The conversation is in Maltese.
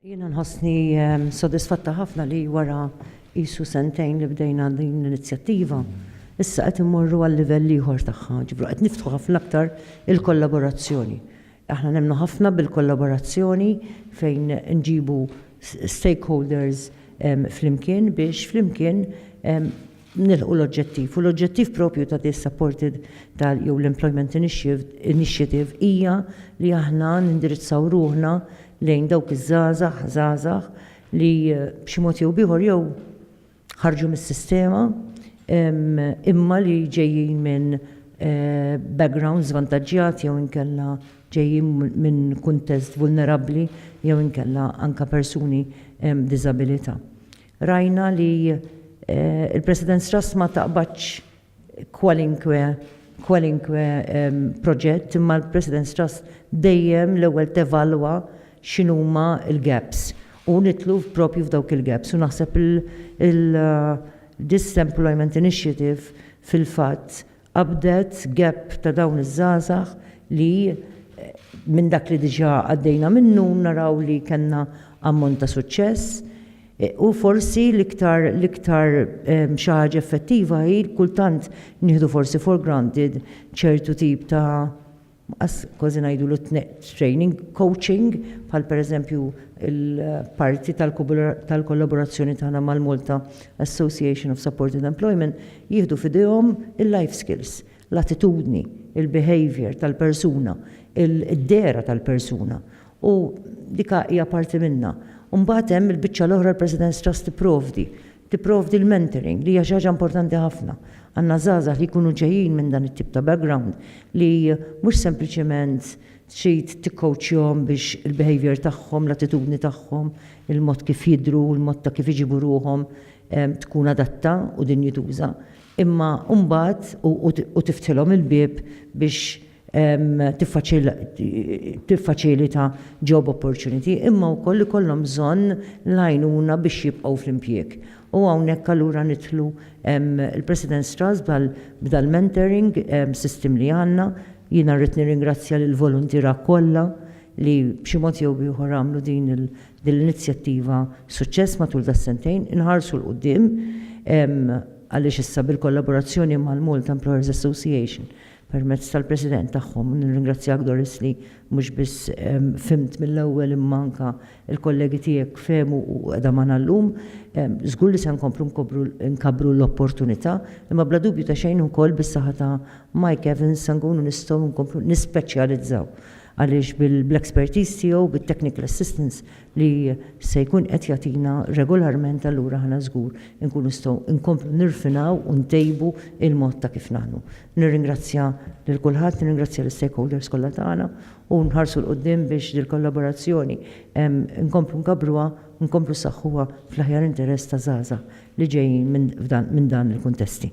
Jiena nħossni ehm, sodisfatta ħafna li wara qisu sentejn li bdejna din l-inizjattiva, issa qed immorru għal livell ieħor tagħha, ġibru qed niftħu ħafna aktar il-kollaborazzjoni. Aħna nemnu ħafna bil-kollaborazzjoni fejn nġibu stakeholders ehm, flimkien biex flimkien ehm, nilħqu l-oġġettiv. U l-oġġettiv proprju ta' this supported tal jew l-employment initiative hija li aħna nindirizzaw ruħna lejn dawk iż-żgħażagħ, żgħażagħ li b'xi mod jew b'ieħor jew ħarġu mis-sistema imma li ġejjin minn background żvantaġġjat jew inkella ġejjin minn kuntest vulnerabbli jew inkella anke persuni b'diżabilità. Rajna li l-President Strass ma taqbadx kwalinkwe kwalinkwe proġett imma l-President Strass dejjem l-ewwel tevalwa x'inhuma l-gaps u nidħlu propju f'dawk il-gaps u naħseb il-Disemplloyment Initiative fil-fatt Qabdet gap ta' dawn iż-żgħażagħ li minn dak li diġà għaddejna minnu naraw li kellna ammont ta' suċċess. U forsi l-iktar l-iktar xi ħaġa effettiva hi kultant nieħdu forsi for granted ċertu tip ta' Qas kważi ngħidulu training, coaching, bħal pereżempju l-parti tal-kollaborazzjoni tagħna mal-Malta Association of Supported Employment, jieħdu f'idejhom il-life skills, l-attitudni, il-behaviour tal-persuna, id-dehra tal-persuna. U dik hija parti minnha. U mbagħad hemm il-biċċa l-oħra l-President's Trust tipprovdi Tipprovdi l-mentoring li hija xi ħaġa importanti ħafna. Għandna żgħażagħ li jkunu ġejjin minn dan it-tip ta' background li mhux sempliċement trid tikkowċjahom biex il-behaviour tagħhom, l-attitudni tagħhom, il-mod kif jidhru, il-mod ta' kif iġibu ruħhom tkun adatta u dinjituża, imma mbagħad u tiftħilhom il-bieb biex tiffaċilita job opportunity, imma wkoll ikollhom bżonn l-għajnuna biex jibqgħu fl-impjieg. U hawnhekk allura nidħlu l-President's Trust b'dal-mentoring system li għandna. Jiena rrid nirringrazzja lill-voluntiera kollha li b'xi mod jew b'ieħor għamlu din l-inizjattiva suċċess matul das-sentejn. Inħarsu 'l quddiem għaliex issa bil-kollaborazzjoni mal-Malta Employers Association permezz tal-President tagħhom, nirringrazzjak Doris li mhux biss fhimt mill-ewwel imma anke l-kollegi tiegħek fehmu u qiegħda magħna llum. Żgur li se nkomplu nkobru nkabbru l-opportunità, imma bla dubju ta' xejn ukoll bis-saħħa ta' Mike Evans se nkunu nistgħu nkomplu nispeċjalizzaw għaliex bil-expertise tiegħu, bit-technical assistance, li se jkun qed jagħtina regolarment allura aħna żgur inkunu nistgħu nkomplu nirfinaw u ntejbu l-mod ta' kif naħdmu. Nirringrazzja lil kulħadd, nirringrazzja l-istakeholders kollha tagħna u nħarsu 'l quddiem biex dil-kollaborazzjoni nkomplu nkabbruha u nkomplu nsaħħuha fl-aħjar interess ta' żgħażagħ li ġejjin minn dan il-kuntesti.